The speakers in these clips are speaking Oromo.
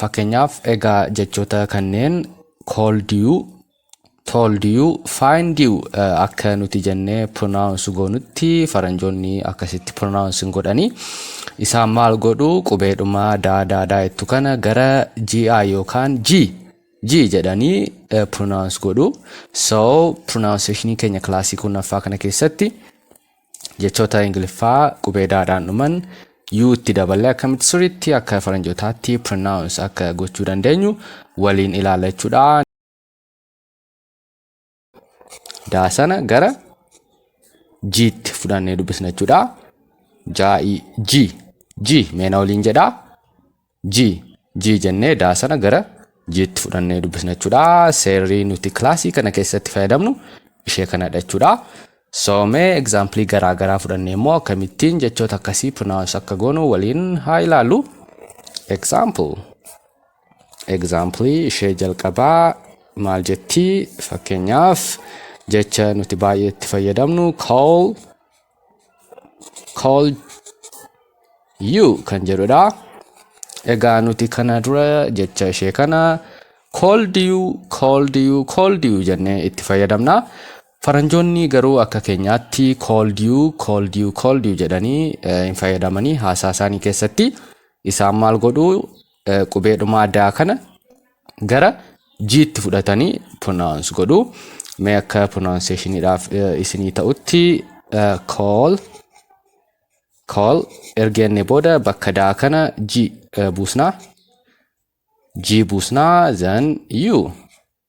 Fakkeenyaaf, egaa jechoota kanneen called you, told you, find you akka nuti jennee pronounce goonutti faranjoonni akkasitti pronounce hin godhani. Isaan maal godhu qubeedhuma daa daa daa jettu kana gara GI yookaan G G jedhanii pronounce godhu. So pronunciation keenya kilaasii kurnaffaa kana keessatti Jechoota Ingiliffaa qubee daadhaan dhuman U itti daballee akkamitti sirriitti akka faranjootaatti pronounce akka gochuu dandeenyu waliin ilaalla jechuudha. Daa sana gara G'tti fudhannee dubbisna jechuudha. Jaa'ii G G meena waliin jedhaa. G. G jennee daa sana gara G'tti fudhannee dubbisna jechuudha. Seerri nuti kilaasii kana keessatti fayyadamnu ishee kanadha jechuudha. So mee egzaampilii garaa garaa fudhannee immoo akkamittiin jechoota akkasii pronounce akka goonu waliin haa ilaallu. Example. Egzaampilii ishee jalqabaa maal jetti fakkeenyaaf jecha nuti baay'ee itti fayyadamnu call call you kan jedhudha. Egaa nuti kana dura jecha ishee kana called you called you called you jennee itti fayyadamna. Faranjoonni garuu akka keenyaatti called you called you called you jedhanii eh, hin fayyadamanii haasaa isaanii keessatti isaan maal godhu eh, qubeedhumaa daa kana gara jiitti fudhatanii pronounce godhu mee akka pronunciationiidhaaf eh, isinii ta'utti eh, call call erga jennee booda bakka daa kana ji eh, buusnaa ji buusnaa then you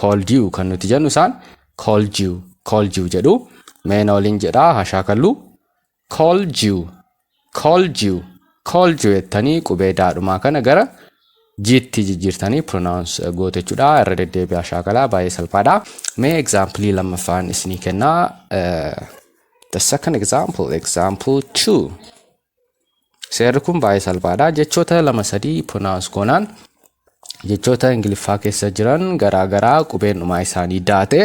called you kan nuti jennu isaan called you called you jedhu mee na waliin jedhaa haa shaakallu called you called you called you jettanii qubee daadhumaa kana gara jiitti jijjiirtanii pronounce eh, gootu jechuudha irra deddeebi'aa shaakalaa baay'ee salphaadha mee example lammaffaan isinii kennaa eh, the second example example two Seerri kun baay'ee salphaadha. Jechoota lama sadii pronounce goonaan jechoota Ingiliffaa keessa jiran garaa garaa qubeen dhumaa isaanii daate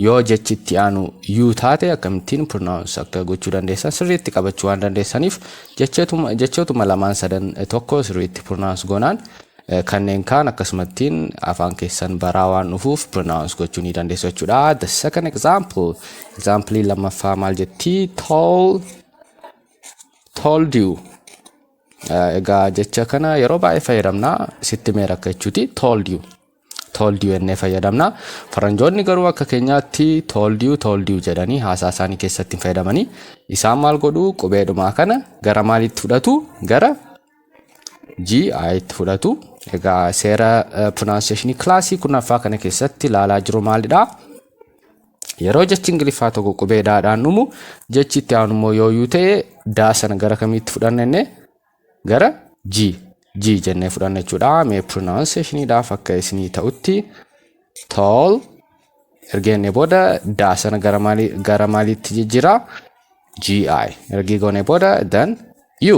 yoo jechi itti aanu yuu taate akkamittiin pronounce akka gochuu dandeessan sirriitti qabachuu waan dandeessaniif jechootuma jechootuma lamaan sadan tokko sirriitti pronounce goonaan eh, kanneen kaan akkasumattiin afaan keessan baraa waan dhufuuf pronounce gochuu ni dandeessu jechuudha. The second example example lammaffaa maal jetti tall told you egaa jecha kana yeroo baay'ee fayyadamna sitti mee rakka jechuuti told you told you jennee fayyadamna faranjoonni garuu akka keenyaatti told you told you jedhanii haasaa isaanii keessatti hin fayyadamanii isaan maal godhu qubeedhumaa kana gara maaliitti fudhatu gara GI itti fudhatu egaa seera pronunciation kilaasii kurnaffaa kana keessatti ilaalaa jiru maalidha Yeroo jechi Ingiliffaa tokko qubee daadhaan dhumu jechi itti aanu immoo yoo yuu ta'e daa sana gara kamiitti fudhanna jennee gara G G jennee fudhanna jechuudha. Mee pronunciationiidhaaf akka isinii ta'utti tall erga jennee booda daa sana gara maalii gara maaliitti jijjiira GI erga goonee booda then U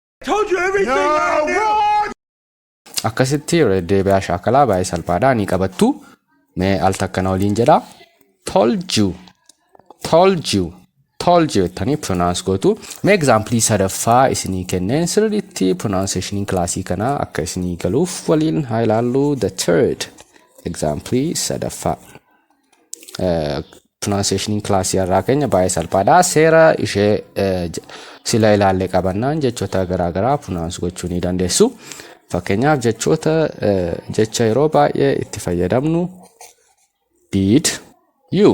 Told you everything no, I knew. What? Akkasitti deebi'aa shaakalaa baay'ee salphaadha ni qabattu. Mee al takka na waliin jedha. Told you. Told you. Told you jettanii pronounce gootu. Mee example sadaffaa isinii kenneen sirriitti pronunciation kilaasii kana akka isinii galuuf waliin haa ilaallu the third example sadaffaa. pronunciation class irraa keenya baay'ee salphaadha. Seera ishee eh, j- sila ilaallee qabannaan jechoota garaagaraa pronounce gochuu ni dandeessu. Fakkeenyaaf jechoota eh, jecha yeroo baay'ee itti fayyadamnu did you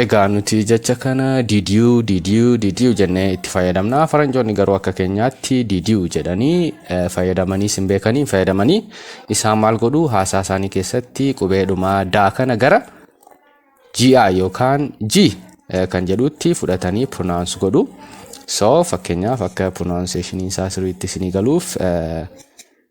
Egaa nuti jecha kana didiyu didiyu didiyu jennee itti fayyadamna. Faranjoonni garuu akka keenyaatti didiyu jedhanii eh, fayyadamanii sin beekanii hin fayyadamanii isaan maal godhu haasaa isaanii keessatti qubeedhuma daa kana gara GI yookaan G eh, kan jedhutti fudhatanii pronounce godhu. So fakkeenyaaf akka pronunciation isaa sirriitti isinii galuuf eh,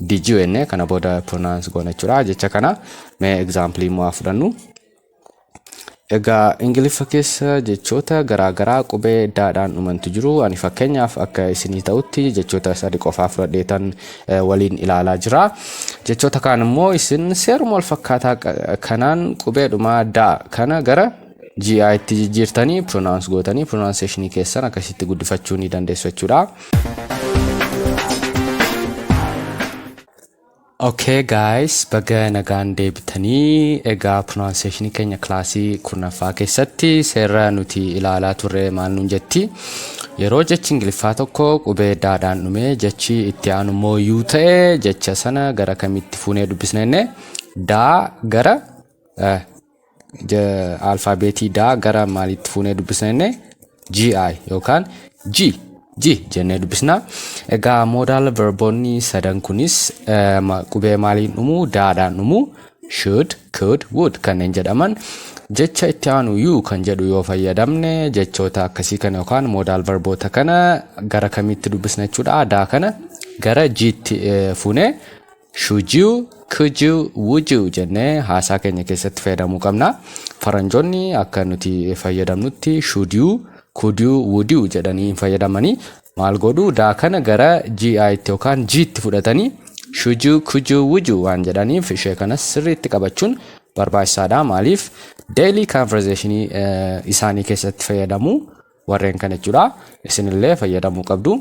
Did you enne kana booda pronounce goona jechuudha jecha kana mee example immoo haa fudhannu. Egaa Ingiliffa keessa jechoota garaagaraa qubee daadhaan dhumantu jiru. Ani fakkeenyaaf akka isinii ta'utti jechoota sadi qofaa fudhadheetan eh, waliin ilaalaa jira. Jechoota kaan immoo isin seeruma wal fakkaataa qa- kanaan qubeedhuma daa kana gara GI itti jijjiirtanii pronounce gootanii pronunciation keessan akkasitti guddifachuu ni dandeessu jechuudha. Okay guys, baga nagaan deebitanii egaa pronunciation keenya kilaasii kurnaffaa keessatti seera nuti ilaalaa turre maal nuun jetti. Yeroo jechi ingiliffaa tokko qubee daadhaan dhumee jechi itti aanu immoo yuu ta'e jecha sana gara kamitti fuunee dubbisna jenne daa gara eh, alfaabeetii daa gara maaliitti fuunee dubbisna jenne GI yookaan G G jennee dubbisna. Egaa moodaal verboonni sadan kunis qubee maaliin dhumu daadhaan dhumu should, could, would kanneen jedhaman jecha itti aanu you kan jedhu yoo fayyadamne jechoota akkasii kana yookaan moodaal verboota kana gara kamiitti dubbisna jechuudha daa kana gara G'tti fuunee Should you, could you, would you jennee haasaa keenya keessatti fayyadamuu qabna. Faranjoonni akka nuti fayyadamnutti should you, could you, would you jedhanii hin fayyadamanii maal godhu daa kana gara GItti yookaan Gtti fudhatanii should you, could you, would you waan jedhaniif ishee kanas sirriitti qabachuun barbaachisaadha. Maaliif daily conversation isaanii keessatti fayyadamu. warreen kana jechuudha isinillee fayyadamuu qabdu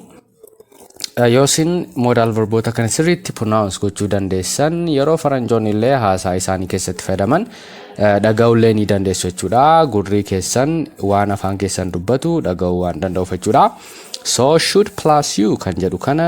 yoo isin moodaal verboota kana sirriitti pronounce gochuu dandeessan yeroo faranjoonni illee haasaa isaanii keessatti fayyadaman dhaga'ullee ni dandeessu jechuudha gurrii keessan waan afaan keessan dubbatu dhaga'uu waan danda'uuf jechuudha so should plus you kan jedhu kana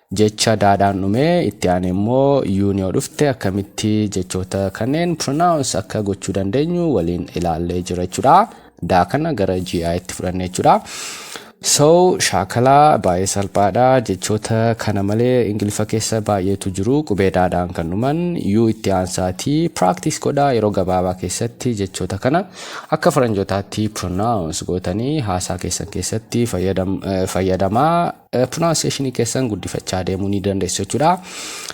Jecha daadhaan dhume itti aanee immoo yuun yoo dhufte akkamitti jechoota kanneen pronounce akka gochuu dandeenyu waliin ilaallee jira jechuudha. Daa kana gara GI itti fudhanne jechuudha. So shaakala baay'ee salphaadha. Jechoota kana malee Ingiliffa keessa baay'eetu jiru. Qubee daadhaan kan dhuman yuu itti aansaati. Practice godha yeroo gabaabaa keessatti jechoota kana akka faranjootaatti pronounce gootanii haasaa keessan keessatti fayyadamaa pronunciation keessan guddifachaa deemuu ni dandeessu jechuudha.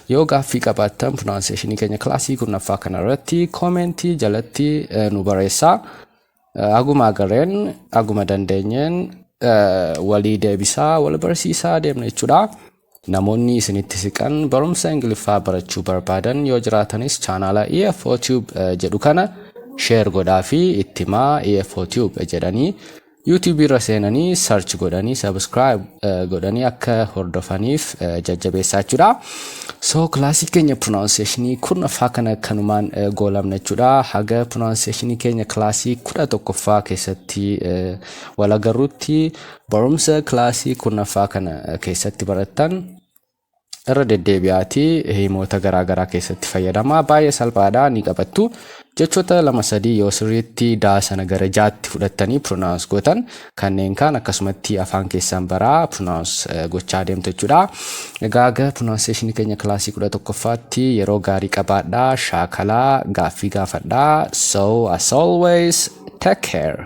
Yoo gaaffii qabaattan pronunciation keenya kilaasii kurnaffaa kana irratti koomentii jalatti nu barreessaa. Aguma agarreen aguma dandeenyeen walii deebisaa wal barsiisaa deemna jechuudha. Namoonni isinitti siqan barumsa Ingiliffaa barachuu barbaadan yoo jiraatanis chaanaala EFO Tube jedhu kana share godhaa fi itti himaa EFO Tube jedhanii YouTube irra seenanii search godhanii subscribe eh, godhanii akka hordofaniif eh, jajjabeessaa jechuudha. So kilaasii keenya pronunciation kurnaffaa kana kanumaan eh, goolabna jechuudha. Haga pronunciation keenya kilaasii kudha tokkoffaa keessatti eh, wal agarrutti barumsa kilaasii kurnaffaa kana eh, keessatti barattan irra deddeebi'aati himoota garaa garaa keessatti fayyadamaa baay'ee salphaadha ni qabattu jechoota lama sadii yoo sirriitti daa sana gara jaatti fudhattanii pronounce gootan kanneen kaan akkasumatti afaan keessan baraa pronounce gochaa deemtu jechuudha egaa aga pronunciation keenya kilaasii kudha tokkoffaatti yeroo gaarii qabaadhaa shaakalaa gaaffii gaafadhaa so as always take care